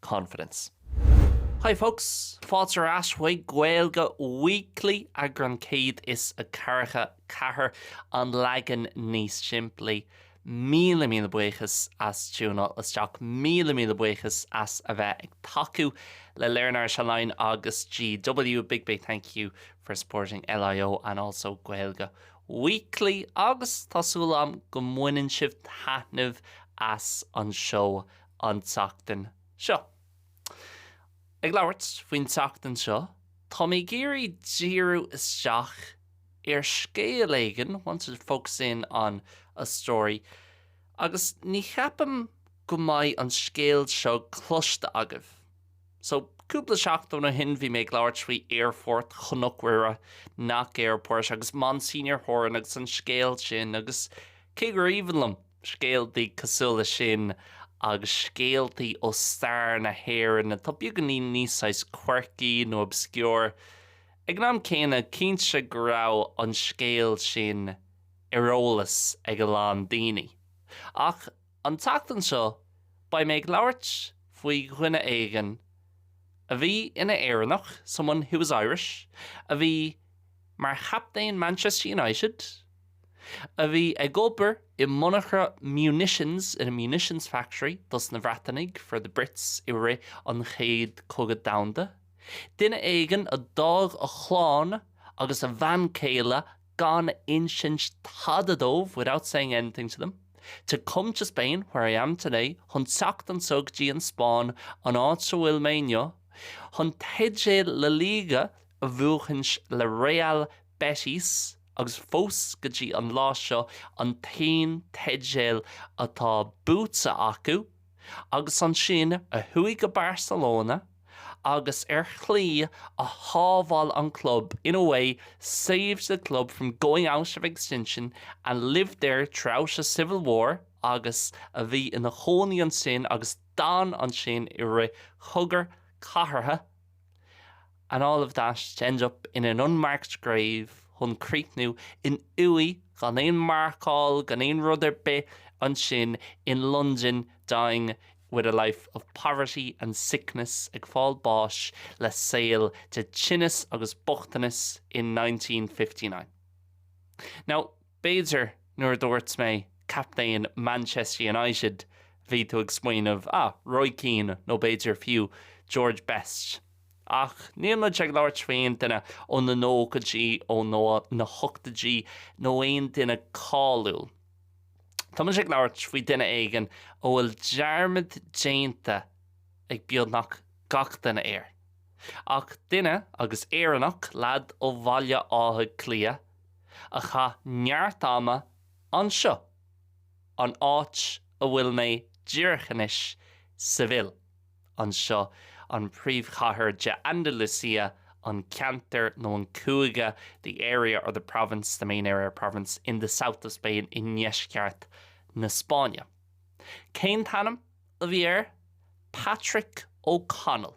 confidence. Hi folks, fáilte ar ais chuig Gaeilge Weekly, eagrán 144, an leagan níos simplí. Míle míle buíochas as tiúineáil isteach, míle míle buíochas as a bheith ag tacú le Learn Irish Online agus GW, a big big thank you for supporting LIO and also Gaeilge Weekly agus tá súil agam go mbaineann sibh taitneamh as an seó an tseachtain seo. Ag labhairt faoin tseachtain seo, tá mé ag iarraidh díriú isteach ar scéal éigin, wanted to focus in on a story, agus ní cheapaim go mbeidh an scéal seo cloiste agaibh. So, cúpla seachtain ó shin, bhí mé ag labhairt faoi Aerfort Chnoc Mhuire, Knock Airport, agus Monsignor Horan agus an scéal sin, agus cé gur aoibhinn liom, scéaltaí cosúil leis sin agus scéaltaí ó stair na hÉireann atá beagáinín níos saghas quirky nó obscure. Ag an am céanna, cinnte go raibh an scéal sin ar eolas ag a lán daoine. Ach an tseachtain seo, beidh mé ag labhairt faoi dhuine éigin a bhí ina Éireannach, someone who was Irish, a bhí mar chaptaen Manchester United, a bhí ag obair i monarcha munitions, in a munitions factory, dos na Bhreatainigh, for the Brits, i rith an Chéad Cogadh Domhanda. Duine éigin a d'fhág a chlann agus a bhean céile gan insint tada dóibh, without saying anything to them, to come to Spain, where I am today, chun teacht anseo go dtí an Spáinn, an áit a bhfuil mé inniu, chun teideal La Liga a bhuachaint le Real Betis. agus fós go dtí an lá seo an t-aon teideal atá buaite acu, agus ansin a chuaigh go Barcelona agus ar shlí a shábháil an club, in a way, saved the club from going out of extinction and lived there throughout a civil war agus a bhí ina chónaí ansin agus d'fhan ansin i rith Chogadh Cathartha And all of that to end up in an unmarked grave, chun críochnú in uaigh gan aon mharcáil, gan aon rud ar bith ansin in Londain, dying with a life of poverty and sickness, ag fáil báis le saol de thinneas agus bochtanas in nineteen fifty nine. Now. B'fhéidir nuair a dúirt mé captaen Manchester United bhí tú ag smaoineamh, ah, Roy Keane nó b'fhéidir fiú George Best. Ach níl muid ag labhairt faoi aon duine ó na nóchaidí, ó na hochtaidí nó aon duine cáiliúil. Tá muid ag labhairt faoi duine éigin a bhfuil dearmad déanta ag beagnach gach duine air. Ach duine, agus Éireannach, leaid ó Bhaile Átha Cliath, a chaith neart ama anseo, an áit a bhfuil mé díreach anois, Seville, anseo an príomhchathair de Andalucia, an ceantar nó an cúige the area or the province, the main area or province in the south of Spain i ndeisceart na Spáinne. Cén t-ainm a bhí air? Patrick O'Connell.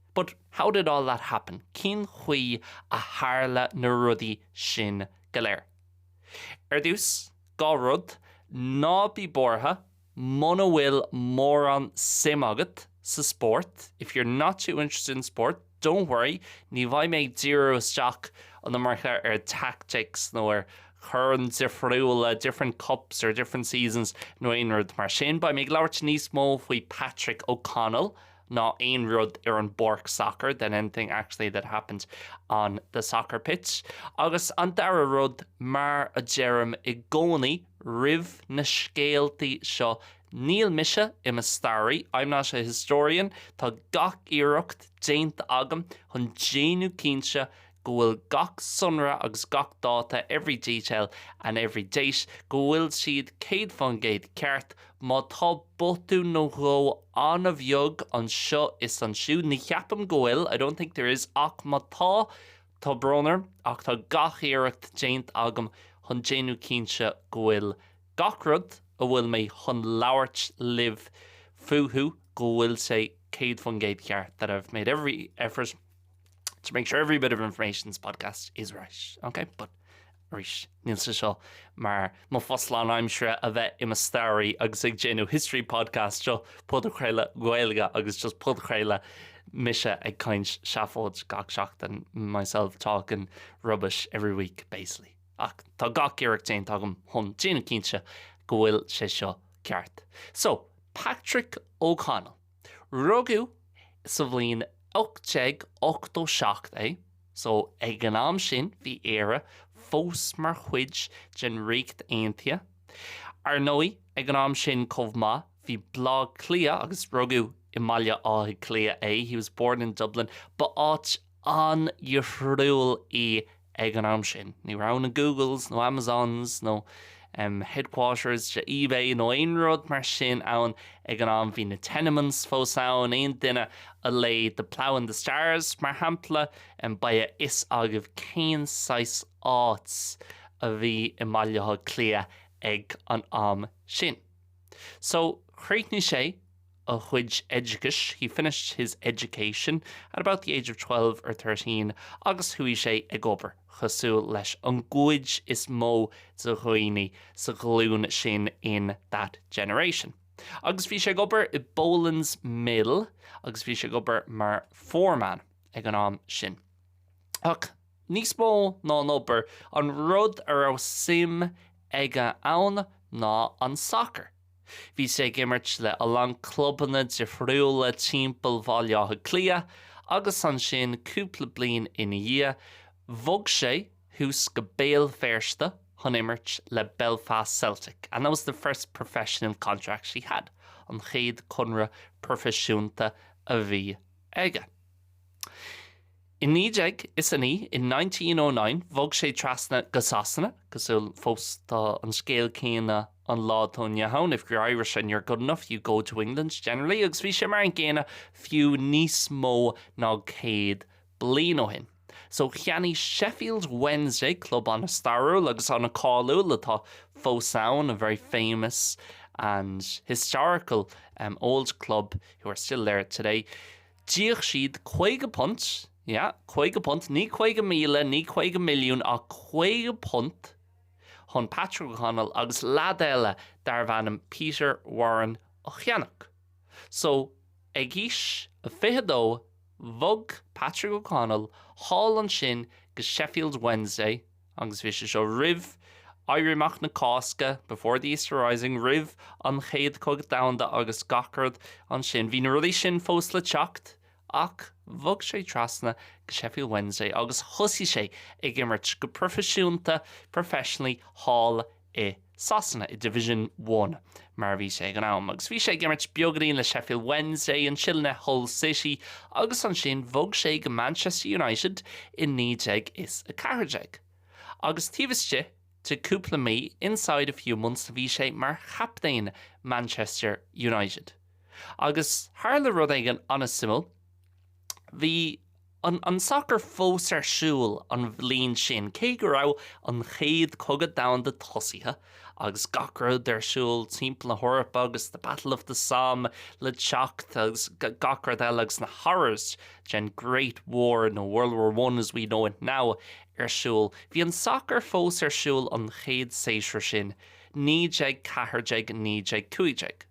But how did all that happen? Cén chaoi a tharla na rudaí sin go léir? Ar dtús, dhá rud, ná bí buartha muna bhfuil mórán suim agat sa spórt, If you're not too interested in sport, don't worry, ní bheidh mé ag díriú isteach an iomarca ar tactics nó ar choirn difriúla, different cups or different seasons nó aon rud mar sin. Beidh mé ag labhairt níos mó faoi Patrick O'Connell ná aon rud ar an bpáirc sacair than anything actually that happened on the soccer pitch agus an dara rud, mar a deirim i gcónaí roimh na scéaltaí seo, níl mise i mo staraí, I'm not a historian, tá gach iarracht déanta agam chun déanamh cinnte go bhfuil gach sonra agus gach dáta every detail and every date go bhfuil siad céad fán gcéad ceart, má tá botún nó dhó an-bheag anseo is ansiúd, ní cheapaim go bhfuil, I don't think there is, ach má tá, tá brón orm ach tá gach iarracht déanta agam chun déanamh cinnte go bhfuil gach rud a bhfuil mé chun labhairt libh fúthu go bhfuil sé céad fán gcéad ceart, that I've made every effort. to make sure every bit of information in this podcast is right, okay? But arís, níl sé seo mar mo phost lánaimseartha a bheith i mo staraí agus ag déanamh history podcast seo podchraoladh Gaeilge agus just podchraoladh mise ag caint seafóid gach seachtain myself talking rubbish every week basically. Ach tá gach iarracht déanta agam chun déanamh cinnte go bhfuil sé seo ceart. So, Patrick O'Connell. Rugadh sa bhliain 1887 é, so ag an am sin bhí Éire fós mar chuid den Ríocht Aontaithe. Ar ndóigh, ag an am sin chomh maith, bhí Bleá Cliath, agus rugadh i mBaile Átha Cliath é, he was born in Dublin, ba áit, an-difriúil í ag an am sin. Ní raibh na Googles nó Amazons nó headquarters de eBay nó aon rud mar sin ann ag an am. Bhí na tenements fós ann. Aon duine a léigh The Plough and the Stars, mar shampla, beidh a fhios agaibh cén saghas áit a bhí i mBaile Átha Cliath ag an am sin. So, chríochnaigh sé a chuid oideachais, he finished his education at about the age of twelve or thirteen agus chuaigh sé ag obair, cosúil leis an gcuid is mó de dhaoine sa ghlúin sin, in that generation. Agus bhí sé ag obair i Boland's Mill agus bhí sé ag obair mar foreman ag an am sin. Ach níos mó ná an obair, an rud a raibh suim aige ann ná an sacar. Bhí sé ag imirt le a lán clubanna difriúla timpeall Bhaile Átha Cliath agus ansin cúpla bliain ina dhiaidh, bhog sé suas go Béal Feirste chun imirt le Belfast Celtic and that was the first professional contract he had, an chéad conradh proifisiúnta a bhí aige. I naoi déag is a naoi, in nineteen O nine, bhog sé trasna go Sasana, cosúil, fós tá an scéal céanna an lá atá inniu ann, if you're Irish and you're good enough, you go to England, generally, agus bhí sé mar an gcéanna fiú níos mó ná céad bliain ó shin. So cheannaigh Sheffield Wednesday, club an-stairiúil agus an-cháiliúil atá fós ann, a very famous and historical old club who are still there today, D'íoc siad caoga punt, yeah, caoga punt, ní caoga míle, ní caoga milliún, ach caoga punt chun Patrick O'Connell agus leaid eile darbh ainm Peter Warren a cheannach. So, ag aois a fiche dó, bhog Patrick O'Connell thall ansin go Sheffield Wednesday, Agus bhí sé seo roimh Éirí Amach na Cásca, before the Easter Rising, roimh an Chéad Chogadh Domhanda agus gach rud ansin. Bhí na rudaí sin fós le teacht. Ach bhog sé trasna go Sheffield Wednesday agus thosaigh sé ag imirt go proifisiúnta, professionally, thall i Sasana, i Division One mar a bhí sé ag an am, agus bhí sé ag imirt beaganín le Sheffield Wednesday, ansin le Hull City agus ansin bhog sé go Manchester United i 1914. Agus taobh istigh de cúpla mí, inside a few months, bhí sé mar chaptaen Manchester United. Agus tharla rud éigin an-suimiúil, bhí. an sacar fós ar siúl an bhliain sin, cé go raibh an Chéad Chogadh Domhanda tosaithe agus gach rud ar siúl timpeall na hEorpa agus The Battle of the Somme le teacht agus gach rud eile agus na horrors den Great War nó World War One as we know it now ar siúl. Bhí an sacar fós ar siúl an chéad séasúr sin, 1914, 1915.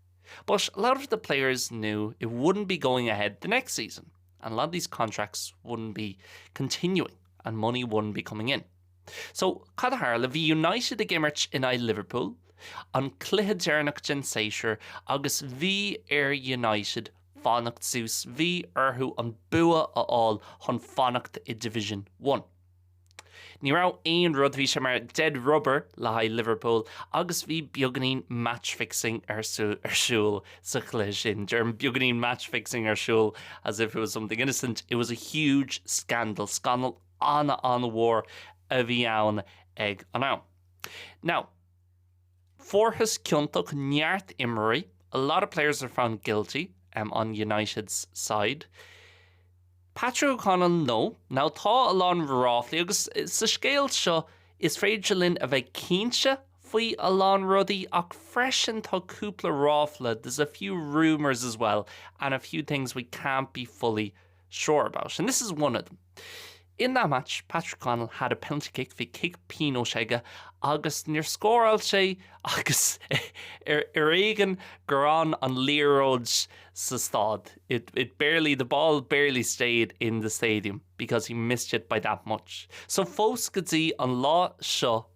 But a lot of the players knew it wouldn't be going ahead the next season. and a lot of these contracts wouldn't be continuing and money wouldn't be coming in. So cad a tharla? Bhí United ag imirt in aghaidh Liverpool, an cluiche deireanach den séasúr agus bhí ar United fanacht suas, bhí orthu an bua a fháil chun fanacht i Division One. Ní raibh aon rud, bhí sé mar dead rubber le haghaidh Liverpool agus bhí beagainín match fixing ar siúl sa chluiche sin. Deirim beagainín match fixing ar siúl as if it was something innocent, it was a huge scandal, scannal an-an-mhór a bhí ann ag an am. Now, Fuarthas ciontach neart imreoirí, a lot of players were found guilty, em, on United's side. Patrick O'Connell, No, now tá a lán ráflaí agus sa scéal seo is féidir linn a bheith cinnte faoi a lán rudaí ach freisin tá cúpla ráfla, there's a few rumours as well and a few things we can't be fully sure about and this is one of them. In that match, Patrick Connell had a penalty kick, bhí cic pionóis aige agus níor scóráil sé agus ar éigean gur fhan an liathróid sa staid, it barely, the ball barely stayed in the stadium because he missed it by that much. So fós go dtí an lá seo,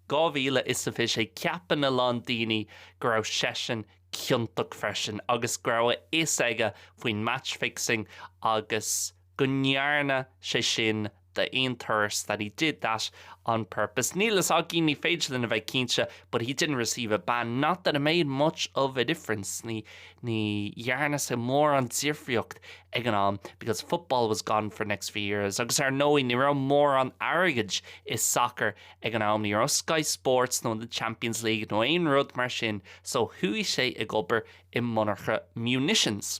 2026, ceapann a lán daoine go raibh seisean ciontach freisin agus go raibh a fhios aige faoin match fixing agus, go ndearna sé sin d'aon turas that he did that on purpose níl a fhios againn, ní féidir linn a bheith cinnte but he didn't receive a ban not that it made much of a difference ní ní dhearna sé mórán difríocht ag an am because football was gone for the next few years agus ar ndóigh ní raibh mórán airgid i sacar ag an am ní raibh Sky Sports nó the Champions League nó aon rud mar sin so chuaigh sé ag obair i monarcha munitions.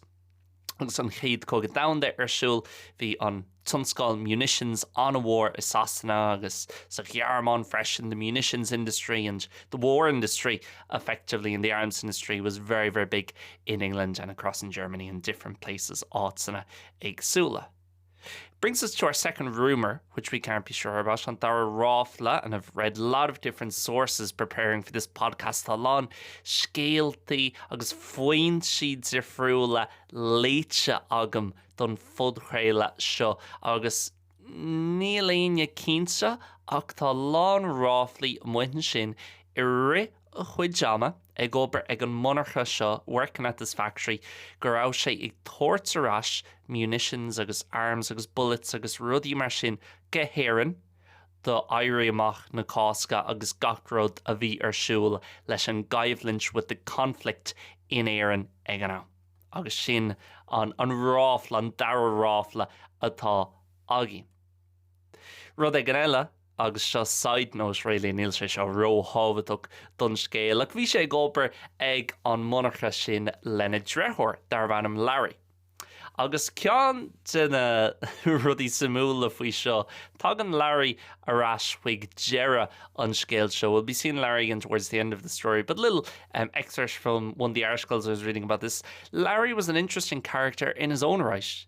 Agus an Chéad Chogadh Domhanda ar siúl, bhí an tionscal munitions an-mhór i Sasana agus sa Ghearmáin freisin, the munitions industry and the war industry, effectively, and the arms industry was very, very big in England and across in Germany and different places, áiteanna éagsúla. Brings us to our second rumour, which we can't be sure about, an dara ráfla, and I've read a lot of different sources preparing for this podcast, tá a lán scéaltaí agus foinsí difriúla léite agam don phodchraoladh seo agus níl éinne cinnte ach tá a lán ráflaí amuigh ansin i rith a chuid ama ag obair ag an monarcha seo working at this factory go raibh sé ag tabhairt ar ais munitions agus arms agus bullets agus rudaí mar sin go hÉirinn do Éirí Amach na Cásca agus gach rud a bhí ar siúl leis an gcoimhlint with the conflict in Éirinn ag an am. Agus sin an ráfla, an dara ráfla atá againn. Rud éigin eile. agus seo side note really, níl sé seo ró-thábhachtach don scéal, ach bhí sé ag obair ag an monarcha sin lena dheartháir darbh ainm Larry. Agus ceann de na rudaí suimiúla faoi seo, tagann Larry ar ais chuig deireadh an scéil seo, we'll be seeing Larry again towards the end of the story, but little excerpts from one of the articles I was reading about this, Larry was an interesting character in his own right.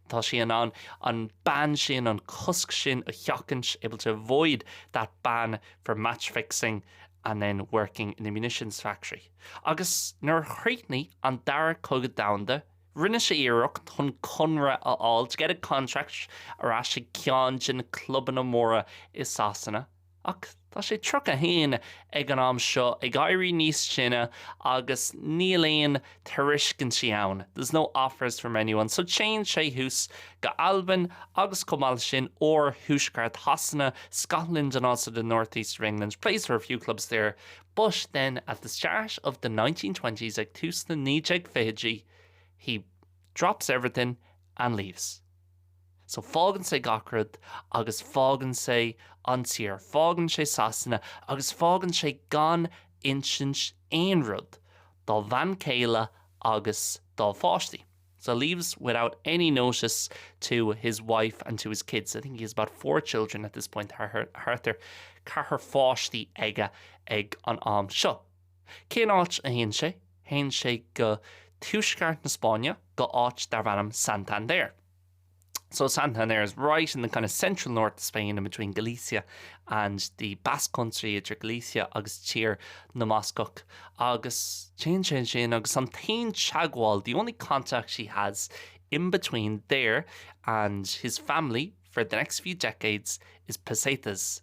Tá sé in ann an ban sin, an cosc sin a sheachaint, able to avoid that ban for match fixing and then working in a munitions factory. Agus nuair a chríochnaigh an Chéad Chogadh Domhanda, rinne sé iarracht chun conradh a fháil, to get a contract, ar ais ag ceann de na clubanna móra i Sasana. Ach tá sé 31 ag an am seo, ag éirí níos sine, agus níl aon tairiscintí ann, there's no offers from anyone, so téann sé thuas go Albain agus chomh maith leis sin, oir thuaisceart Shasana, Scotland and also the northeast of England, plays for a few clubs there, but then at the start of the nineteen twenties, ag tús na 1920idí, he drops everything and leaves. So, fágann sé gach rud agus fágann sé an tír, fágann sé Sasana agus fágann sé gan insint aon rud dá bhean chéile agus dá pháistí. So, leaves without any notice to his wife and to his kids. I think he has about four children at this point, thart ar ceathrar pháistí aige ag an am seo. Cén áit a théann sé? Théann sé go tuaisceart na Spáinne, go áit darb ainm Santander. So Santander is right in the kind of central north of Spain in between Galicia and the Basque Country, idir Galicia agus Tír na mBascach. Agus téann sé ansin agus an t-aon teagmháil, the only contact he has in between there and his family for the next few decades is pesetas.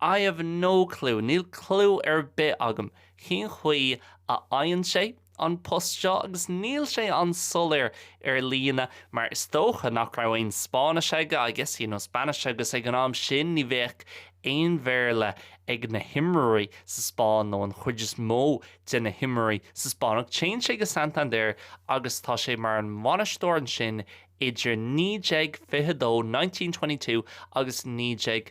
I have no clue, níl clú ar bith agam cén chaoi a fhaigheann sé an post seo agus níl sé an-soiléir ar líne mar is dócha nach raibh aon Spáinnis aige, I guess he no Spanish, agus ag an am sin ní bheadh aon Bhéarla ag na himreoirí sa Spáinn nó an chuid is mó de na himreoirí sa Spáinn. Ach téann sé go Santander agus tá sé mar an bhainisteoir ansin idir 1922, nineteen twenty-two, agus 19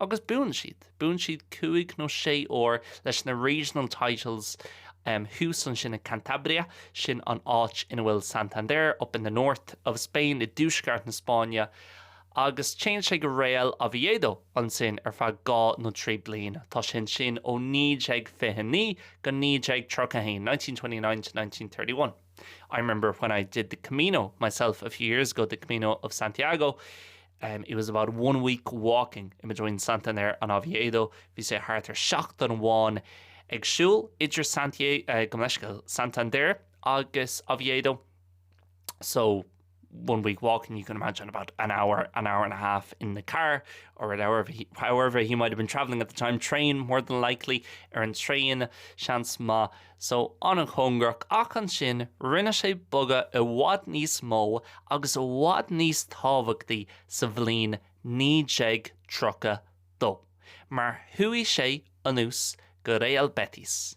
Agus buann siad, buann siad cúig nó sé uair leis na regional titles thuas ansin i Cantabria, sin an áit ina bhfuil Santander, up in the north of Spain, i dtuaisceart na Spáinne, agus téann sé go Real Oviedo ansin ar feadh dá nó trí bliain. Tá sé ansin ó 1929 go 1931, 1929, 1931. I remember when I did the Camino myself a few years ago, the Camino of Santiago, it was about one week walking idir Santander agus Oviedo, bhí sé thart ar sheachtain amháin ag siúl idir Santiago, gabh mo leithscéal, Santander agus Oviedo, so. one week walk and you can imagine about an hour, an hour and a half in the car or however he might have been travelling at the time, train more than likely, ar an traein seans maith, so an-chóngarach, ach ansin rinne sé bogadh i bhfad níos mó agus i bhfad níos tábhachtaí sa bhliain 1932, mar chuaigh sé anuas go Real Betis.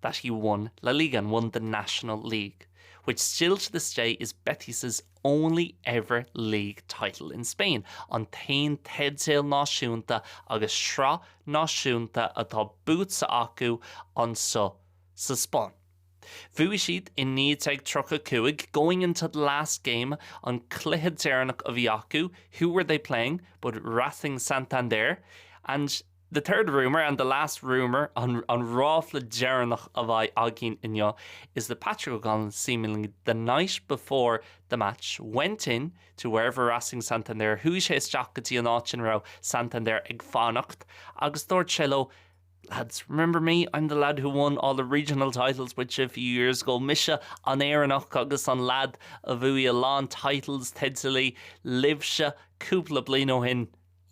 that he won La Liga and won the National League, which still to this day is Betis' only ever league title in Spain, an t-aon teideal náisiúnta agus sraith náisiúnta atá buaite acu anseo sa Spáinn. Bhuaigh siad i 1935, going into the last game, an cluiche deireanach a bhí acu, who were they playing but Racing Santander, and. The third rumour, and the last rumour, an ráfla deireanach a bheidh againn inniu, is that Patrick O'Connell seemingly the night before the match went in to wherever Racing Santander, chuaigh sé isteach go dtí an áit ina raibh Santander ag fanacht agus dúirt sé leo, Lads, remember me, I'm the lad who won all the regional titles with you a few years ago, mise an Éireannach agus an lad a bhuaigh a lán titles, teidil, libhse cúpla bliain ó shin.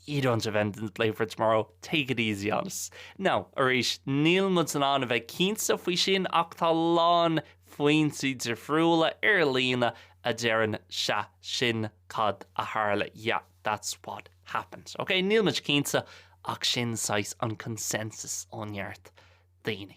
You don't have anything to play for tomorrow, take it easy on us. Now, arís, níl muid in ann a bheith cinnte faoi sin ach tá a lán foinsí difriúla ar líne a deireann 'sea, sin cad a tharla, yeah, that's what happened. Ok, níl muid cinnte ach sin saghas an consensus ó neart daoine.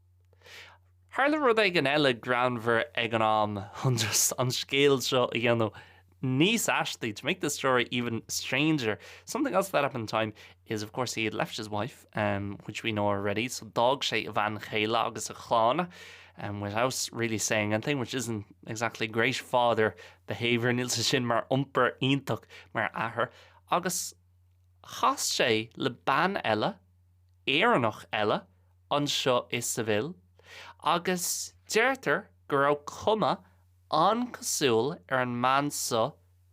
Tharla rud éigin eile greannmhar ag an am chun an scéal seo a dhéanamh níos aistí, to make the story even stranger. Something else that happened at the time is, of course, he had left his wife, which we know already, so d'fhág sé a bhean chéile agus a chlann, without really saying anything, which isn't exactly great father behaviour, níl sé sin mar iompar iontach mar athair, agus chas sé le bean eile, Éireannach eile, anseo i Seville agus deirtear go raibh cuma an-cosúil ar an mbean so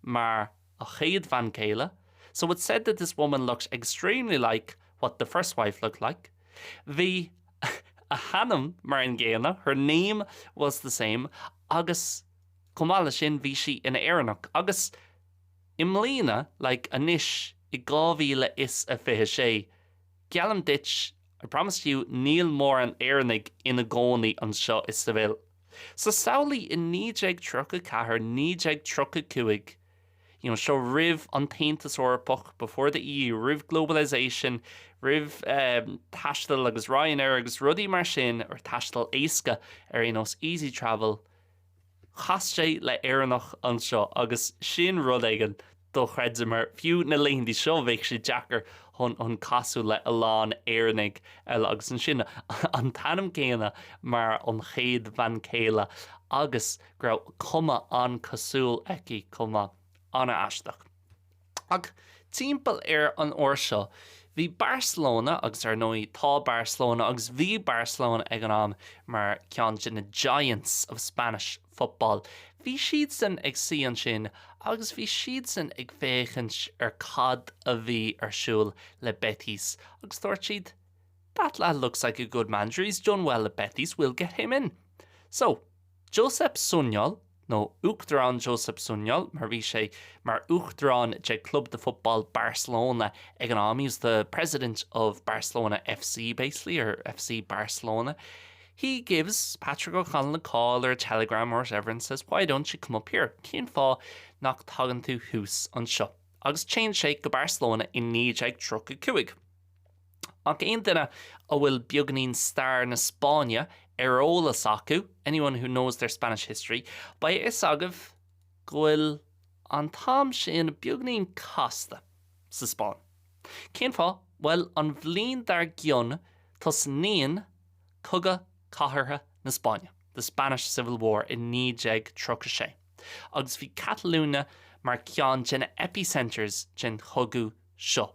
mar a chéad bhean chéile so it's said that this woman looks extremely like what the first wife looked like bhí a hainm mar an gcéanna her name was the same agus chomh maith le sin bhí sí ina Éireannach agus i mbliana like anois i 2026 Geallaim duit, I promise you, níl mórán Éireannaigh ina gcónaí anseo i Seville. So samhlaigh i naoi déag tríocha ceathair, naoi déag tríocha cúig, you know, seo roimh an tAontas Eorpach, before the EU, roimh globalisation, roimh ehm, taisteal agus Ryanair agus rudaí mar sin, or taisteal éasca ar aon nós, easy travel, Chas sé le Éireannach anseo agus sin rud éigin dochreidte mar fiú na laethanta seo bheadh sé deacair chun casadh le a lán Éireannaigh eile agus ansin an t-ainm céanna mar an chéad bhean chéile agus go raibh cuma an-cosúil aici chomh maith. An-aisteach. Ach timpeall ar an uair seo, bhí Barcelona, agus ar ndóigh tá Barcelona, agus bhí Barcelona ag an am, mar ceann de na giants of Spanish football, bhí siadsan ag suí ansin agus bhí siadsan ag féachaint ar cad a bhí ar siúl le Betis agus dúirt siad that lad looks like a good manager, he's done well at Betis, we'll get him in. So. Josep Sunyol, nó Uachtarán Josep Sunyol, mar bhí sé mar uachtarán de Club de Football Barcelona ag an am, he was the president of Barcelona FC basically, or FC Barcelona, he gives Patrick O'Connell a call or a telegram or whatever and says why don't you come up here, cén fáth nach dtagann tú thuas anseo? Agus téann sé go Barcelona i 1935. Ach aon duine a bhfuil beagainín stair na Spáinne ar eolas acu, anyone who knows their Spanish history, beidh a fhios agaibh go bhfuil an t-am sin beagainín casta sa Spáinn. Cén fáth? Bhuel, an bhliain dár gcionn tosnaíonn Cogadh Cathartha na Spáinne, the Spanish Civil War, i 1936, agus bhí Catalunya mar ceann de na epicenters den chogadh seo.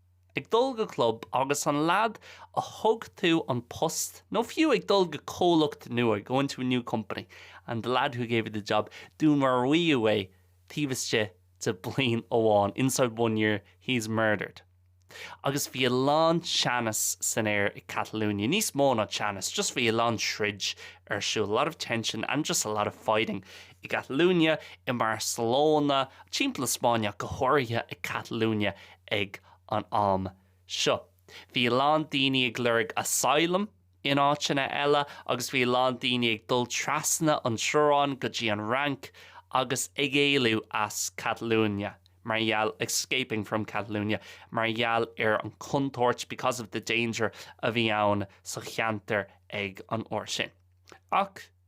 ag dul go club agus an lead a thug tú an post nó fiú ag dul go comhlacht nua, going to a new company and the lad who gave you the job, dúnmaraíodh é taobh istigh de bliain amháin, inside one year he's murdered. Agus bhí a lán teannas san aer i Catalunya, níos mó ná teannas, just bhí a lán troid ar siúl, a lot of tension and just a lot of fighting i gCatalunya, i mBarcelona, timpeall na Spáinne ach go háirithe i gCatalunya, Ag an am seo, bhí a lán daoine ag lorg asylum in áiteanna eile agus bhí a lán daoine ag dul trasna an teorainn go dtí an Fhrainc agus ag éalú as Catalunya mar gheall, escaping from Catalunya, mar gheall ar an chontúirt, because of the danger, a bhí ann sa cheantar ag an uair sin. Ach.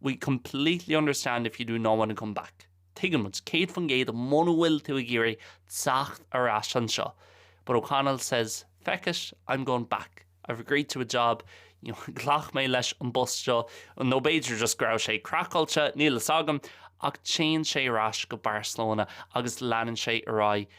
We completely understand if you do not want to come back, tuigeann muid, céad faoin gcéad, muna bhfuil tú ag iarraidh teacht ar ais anseo, but O'Connell says, feck it, I'm going back, I've agreed to a job, you know ghlac mé leis an bpost seo, nó b'fhéidir just go raibh sé craiceáilte, níl fhios agam, ach téann sé ar ais go Barcelona agus leanann sé ar aghaidh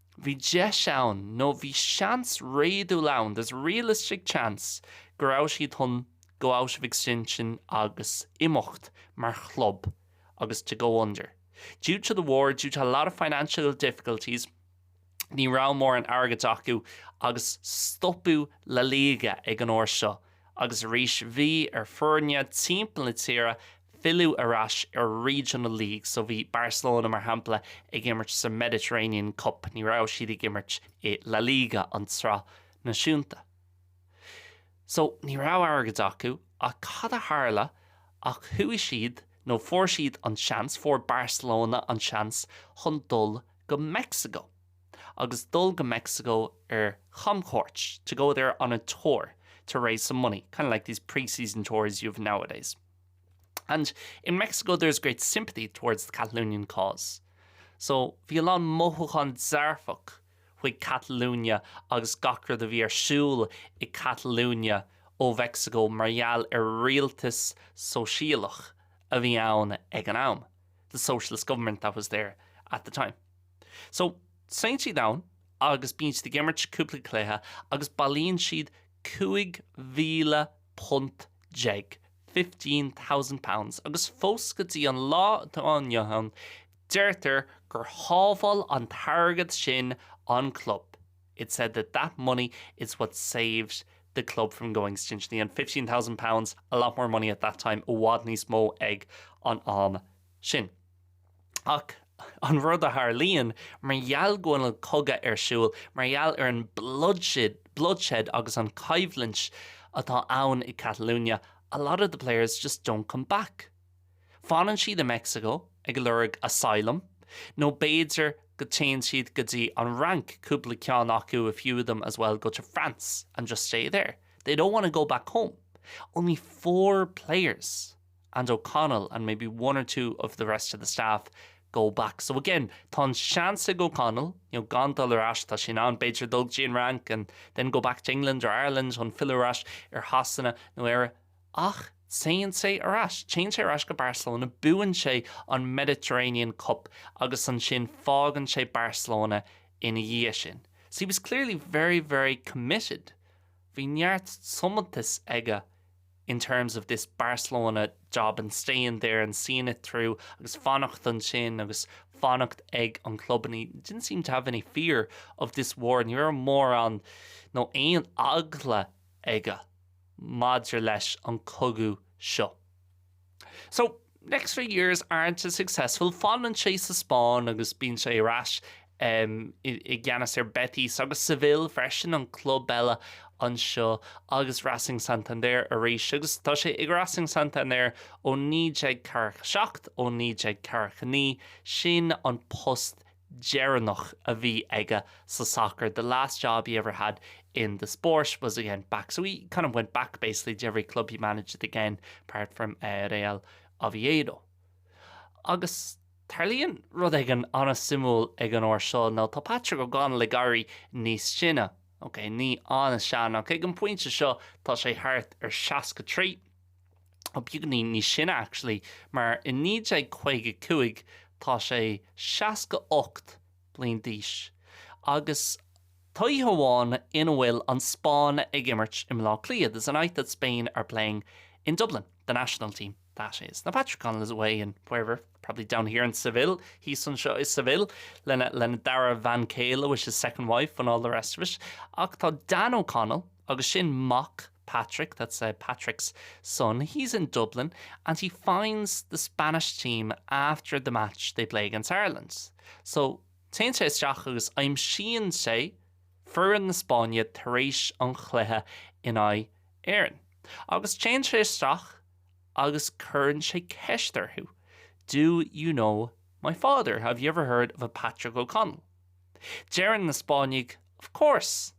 Bhí deis ann, nó bhí seans réadúil ann, there's realistic chance, go raibh siad chun go into extinction agus imeacht mar chlub agus to go under. Due to the war, due to a lot of financial difficulties, ní raibh mórán airgid acu agus stopadh La Liga ag an uair seo. Agus arís bhí ar fhoirne timpeall na tíre filleadh ar ais ar regional league, so bhí Barcelona mar shampla ag imirt sa Mediterranean Cup, ní raibh siad ag imirt i La Liga, an tsraith náisiúnta. So ní raibh airgead acu ach cad a tharla ach chuaigh siad nó fuair siad an seans, fuair Barcelona an seans chun dul go Mexico. agus dul go Mexico ar chamchuairt, to go there on a tour to raise some money, kind of like these pre-season tours you have nowadays. And in Mexico there is great sympathy towards the Catalonian cause. So bhí a lán mothúcháin dearfach chuig Catalunya agus gach rud a bhí ar siúl i Catalunya ó Mheicsiceo mar gheall ar rialtas sóisialach a bhí ann ag an am, the socialist government that was there at the time. So, téann siad ann agus bíonn siad ag imirt cúpla cluiche agus bailíonn siad cúig mhíle punt déag, £15,000, agus fós go dtí an lá atá inniu ann, deirtear gur shábháil an t-airgead sin an club, it's said that that money is what saved the club from going extinct. And £15,000, a lot more money at that time, i bhfad níos mó ag an am sin. Ach an rud a tharlaíonn, mar gheall go bhfuil an cogadh ar siúl, mar gheall ar an bloodshed agus an choimhlint atá ann i Catalunya, a lot of the players just don't come back. Fanann siad i Mexico ag lorg asylum, nó b'fhéidir go téann siad go dtí an Fhrainc, cúpla ceann acu, a few of them as well, go to France and just stay there. They don't want to go back home. Only four players. and O'Connell and maybe one or two of the rest of the staff go back. So again, tá an seans ag O'Connell, you know gan dul ar ais, tá sé in ann b'fhéidir dul go dtí an Fhrainc and then go back to England or Ireland chun filleadh ar ais ar Shasana nó Éire, ach téann sé ar ais, téann sé ar ais go Barcelona, buann sé an Mediterranean Cup agus ansin fágann sé Barcelona ina dhiaidh sin. So he was clearly very, very committed, bhí neart tiomantais aige in terms of this Barcelona job and staying there and seeing it through agus fanacht ansin agus fanacht ag an chlub and he didn't seem to have any fear of this war ní raibh mórán nó aon eagla aige maidir leis an cogadh seo. So, next three years aren't as successful, fanann sé sa Spáinn agus bíonn sé ar ais i gceannas ar Betis agus Seville freisin, an club eile anseo, agus Racing Santander arís, agus tá sé ag Racing Santander ó 1947, ó 1949, sin an post deireanach a bhí aige sa sacar, 'The last job he ever had in the sport was again back', so he kind of went back basically to every club he managed again apart from Real Oviedo. Agus tarlaíonn rud éigin an-suimiúil ag an uair seo, nó tá Patrick O'Connell ag éirí níos sine, ok, ní an-sean, ach ag an bpointe seo tá sé thart ar 63, Ó beagáinín níos sine actually, mar i 1955 tá sé 68 bliain d'aois. Agus tá oíche amháin ina bhfuil an Spáinn ag imirt i mBleá Cliath, there's a night that Spain are playing in Dublin, the national team, that is. Now Patrick O'Connell is away in wherever, probably down here in Seville, thíos anseo i Seville, lena dara bhean céile, with his second wife and all the rest of it. Ach tá Dan O'Connell, Agus sin mac Patrick, that's Patrick's son, he's in Dublin and he finds the Spanish team after the match they play against Ireland. So, téann sé isteach agus aimsíonn sé foireann na Spáinne tar éis an chluiche in aghaidh Éireann. Agus téann sé isteach agus cuireann sé ceist orthu, do you know my father, have you ever heard of a Patrick O'Connell? Deireann na Spáinnigh, of course!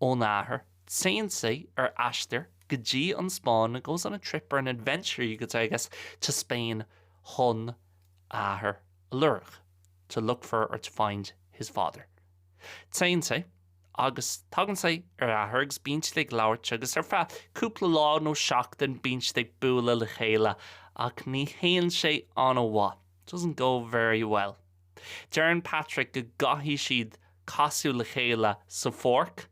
ón athair, téann sé ar aistear go dtí an Spáinn goes on a trip or an adventure you could say, I guess, to Spain chun a athair a lorg to look for or to find his father téann sé agus tagann sé ar a athair agus bíonn siad ag labhairt agus ar feadh cúpla lá nó seachtain bíonn siad ag bualadh le chéile ach ní théann sé an-mhaith doesn't go very well. Deireann Patrick go gcaithfidh siad casadh le chéile sa pháirc.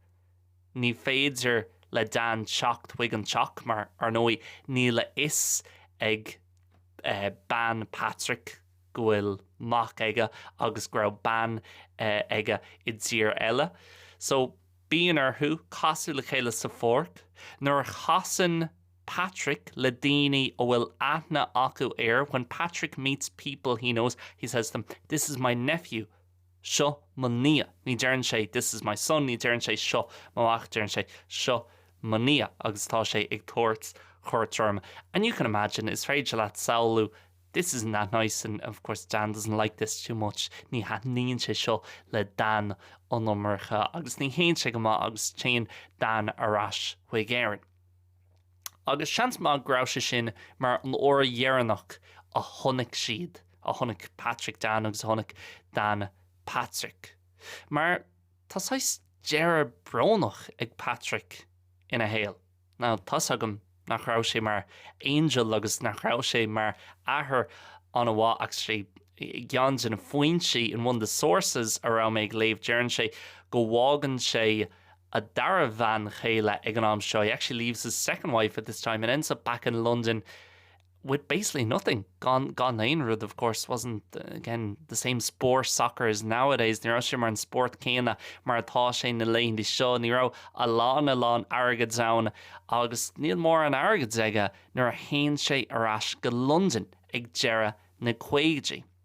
Ní féidir le Dan teacht chuig an teach mar, ar ndóigh, níl a fhios ag bean Patrick go bhfuil mac aige agus go raibh bean aige i dtír eile. So, bíonn orthu casadh le chéile sa pháirc. Nuair a chasann. Patrick le daoine a bhfuil aithne acu air, When Patrick meets people he knows, he says to them, This is my nephew, Seo mo nia. Ní deireann sé, This is my son, ní deireann sé, Seo mo mhac, deireann sé, Seo mo nia. Agus tá sé ag tabhairt cuairt orm. And you can imagine, is féidir leat samhlú, This isn't that nice and, of course, Dan doesn't like this too much, Ní thaitníonn sé seo le Dan an iomarca agus ní théann sé go maith agus téann Dan ar ais chuig Éirinn. Agus seans maith go raibh sé sin mar an uair dheireanach a chonaic siad, a chonaic Patrick Dan agus a chonaic Dan Patrick. Mar tá saghas deireadh brónach ag Patrick ina shaol. Now tá 'fhios agam nach raibh sé mar angel agus nach raibh sé mar athair an-mhaith ach i gceann de na foinsí, in one of the sources, a raibh mé ag léamh deireann sé go bhfágann sé a dara bhean chéile ag an am seo, he actually leaves his second wife at this time and ends up back in London with basically nothing gan aon rud, of course wasn't again the same sport soccer is nowadays, ní raibh sé mar an spórt céanna mar atá sé na laethanta seo, ní raibh a lán a lán airgid ann agus níl mórán airgid aige nuair a théann sé ar ais go Londain ag deireadh na gcaogaidí.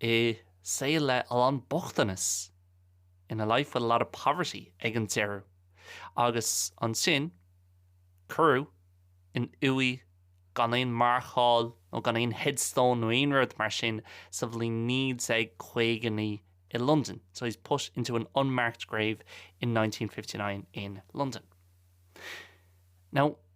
i saol le a lán bochtanas in a life with a lot of poverty ag an deireadh agus ansin cuireadh in uaigh gan aon marcáil nó gan aon headstone nó aon rud mar sin sa bhliain 1959 i Londain so he's put into an unmarked grave in 1959 in London now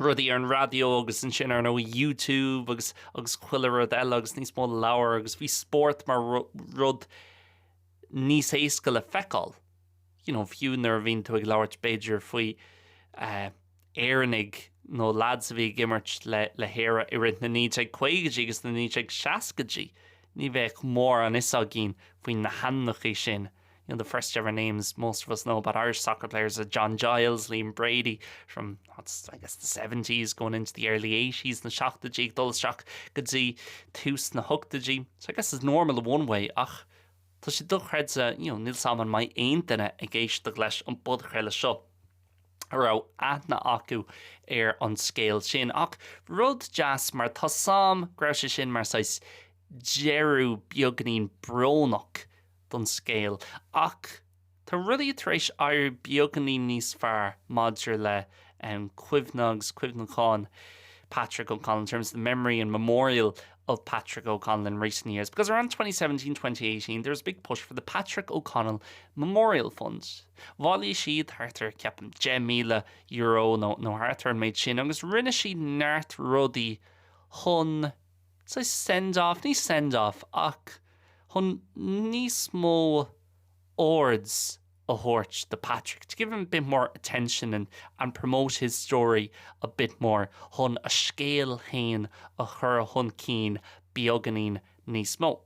rudaí ar an raidió agus ansin ar nós YouTube agus agus chuile rud eile agus níos mó leabhar agus bhí spórt mar rud níos éasca le feiceáil. You know, fiú nuair a bhíonn tú ag labhairt b'fhéidir faoi eh, Éireannaigh nó lads a bhí ag imirt le hÉire i rith na 1950idí agus na 1960idí ní bheadh mórán 'fhios againn faoi na hainmneacha sin you know, the first ever names most of us know about Irish soccer players are John Giles, Liam Brady from what's I guess the seventies going into the early eighties, na seachtaidí ag dul isteach go dtí tús na hochtaidí, so I guess it's normal in one way ach tá sé dochreidte, you know, níl a fhios agam an mbeidh aon duine ag éisteacht leis an bpodchraoladh seo a raibh aithne acu ar an scéal sin. Ach rud deas mar tá a fhios agam go raibh sé sin mar saghas deireadh beagainín brónach don scéal, ach tá rudaí tar éis éirí beagáinín níos fearr maidir le cuimhne agus cuimhneachán Patrick O'Connell, in terms of the memory and memorial of Patrick O'Connell in recent years, because around twenty seventeen, twenty eighteen, there was a big push for the Patrick O'Connell Memorial Fund. Bhailigh siad thart ar, ceapaim, €10,000 nó thart ar an méid sin agus rinne siad neart rudaí chun, So, send-off, ní send-off ach chun níos mó aird a thabhairt do Patrick, to give him a bit more attention and and promote his story a bit more, chun a scéal féin a chur chun cinn beagáinín níos mó.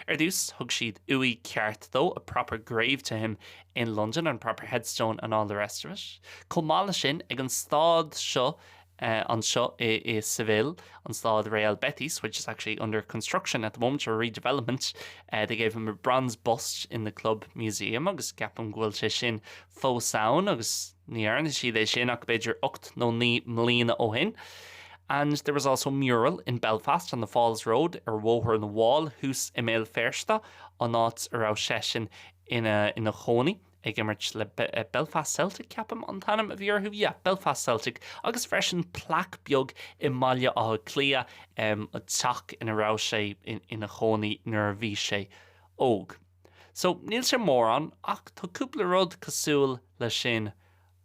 Ar dtús, thug siad uaigh cheart dó, a proper grave to him, in London, and proper headstone and all the rest of it. Chomh maith leis sin, ag an staid seo, anseo i Seville, an staid Real Betis, which is actually under construction at the moment, or redevelopment, they gave him a bronze bust in the club museum, agus ceapaim go bhfuil sé sin fós ann, agus. Ní dhearna siad é sin ach b'fhéidir ocht nó naoi mbliana ó shin. And there was also mural in Belfast on the Falls Road, ar Bhóthar na bhFál, thuas i mBéal Feirste, an áit a raibh seisean ina ina chónaí, ag imirt le Belfast Celtic, ceapaim an t-ainm a bhí orthu, yeah, Belfast Celtic, agus freisin plaic beag i mBaile Átha Cliath, an teach ina raibh sé ina chónaí nuair a bhí sé óg. So, níl sé mórán, ach tá cúpla rud cosúil leis sin.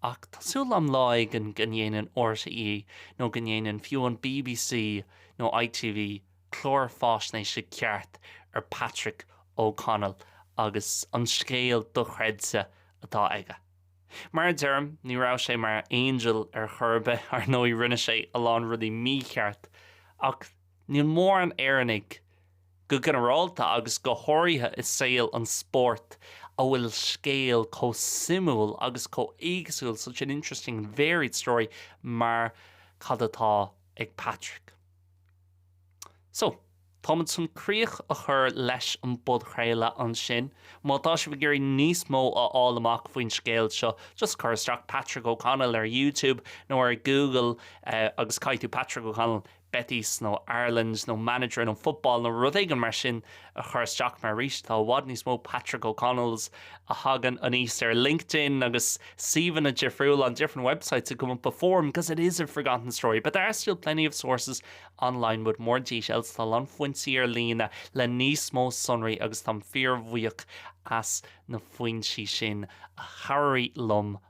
Ach tá súil agam lá éigin go ndéanann RTÉ, nó go ndéanann fiú an bbc nó ITV, clár faisnéise ceart ar Patrick O Connell agus an scéal dochreidte atá aige. Mar a deirim, ní raibh sé mar angel ar chor ar bith, ar ndóigh rinne sé a lán rudaí mícheart, ach níl mórán Éireannaigh, Go ginearálta, agus go háirithe i saol an spóirt a bhfuil scéal chomh suimiúil agus chomh éagsúil, such an interesting and varied story, mar cad atá ag Patrick. So, táimid chun críoch a chur leis an bpodchraoladh ansin. Má tá sibh ag iarraidh níos mó a fháil amach faoin scéal seo, just cuir isteach Patrick O'Connell ar YouTube nó ar Google agus caithfidh tú Patrick O'Connell, Betis nó Ireland nó manager nó football nó rud éigin mar sin a chur isteach mar arís tá i bhfad níos mó Patrick O'Connells a thagann aníos ar LinkedIn agus suíomhanna difriúla on different websites that come up before him because it is a forgotten story but there are still plenty of sources online with more details tá a lán foinsí ar líne le níos mó sonraí agus táim fíor bhuíoch as na foinsí sin a chabhraigh liom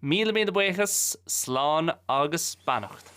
Míle míle buíochas, slán agus beannacht.